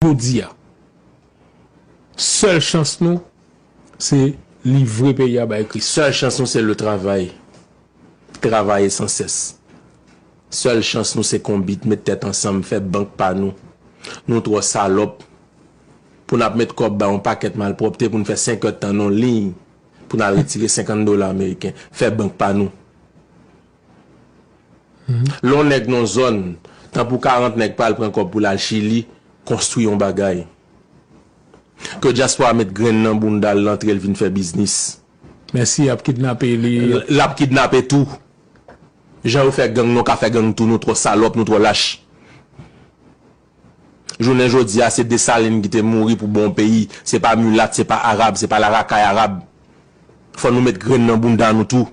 Jodi a, sèl chans nou se livre peyi a bay Kris. Sèl chans nou se le travay, travaye san sès. Sèl chans nou se konbit, met tèt ansanm, fè bank pa nou. Nou twò salòp pou n ap met kòb bay yon pakèt malpwòpte pou n fè senk èdtan nan yon liy pou n al retire senkann dola ameriken. Fè bank pa nou. Lè yon nèg nan yon zòn, tan pou 40 nèg pa al pran kòb pou l al Chili konstwi yon bagay. Ke dyaspora met grenn nan bounda l lantre l vin fè biznis. Men si y ap kidnape li? L ap kidnape tou. Jan yo fè gang nou ka fè gang tou nou twò salòp nou twò lach. Jounen jodi a se Dessalines ki te mouri pou bon peyi, se pa mulat, se pa arab, se pa la rakay arab. Fò nou met grenn nan bounda nou tou.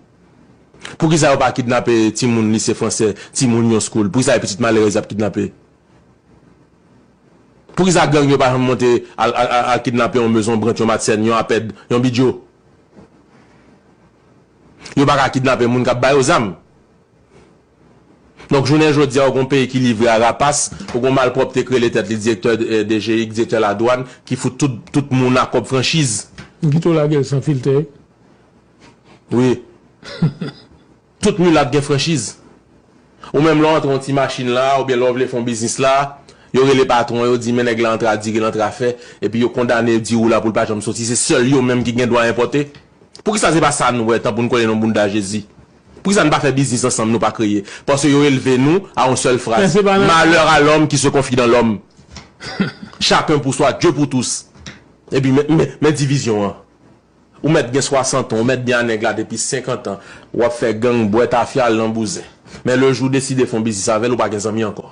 Poukisa yo pa kidnape timoun lise fransè, timoun yon school? Poukisa e pitit malerèz yap kidnape? Poukisa gang yo pa janm monte al kidnape yon mezon branch, yon matsèn, yon apèd, yon bidjo? Yo pa ka kidnape moun kap ba yo zam? Donk jounen jodi a ou gen yon peyi ki livre a rapas, ou gen yon malpwòpte ki rele tèt li direktè DGIC, direktè ladwàn, ki fout tout tout moun a kòb franchiz. M kite w lage l san filtè. Wi. Tout milat gen franchiz. Ou menm lè w antre yon ti machin la oubyen lè w vle fè yon biznis la, yo rele patwon yo di men nèg la antre a dire, l antre a fè, epi yo kondane diri w la pou l pa janm soti, se sèl yo menm ki gen dwa enpòte? Poukisa se pa sa n wè tan pou n kole nan bounda Jezi? Poukisa n pa fè biznis ansanm nou pa kreye? Paske yo elve nou a yon sèl fraz, Malheur à l'homme qui se confie dans l'homme! Chacun pour soi, Dieu pour tous! Epi men divizyon an. Ou mèt gen 60 an, ou mèt byen a nèg la depi 50 an, w ap fè gang, bwè tafya, al nan bouzen. Men le jou w deside fè yon biznis avè l, ou pa gen zanmi ankò.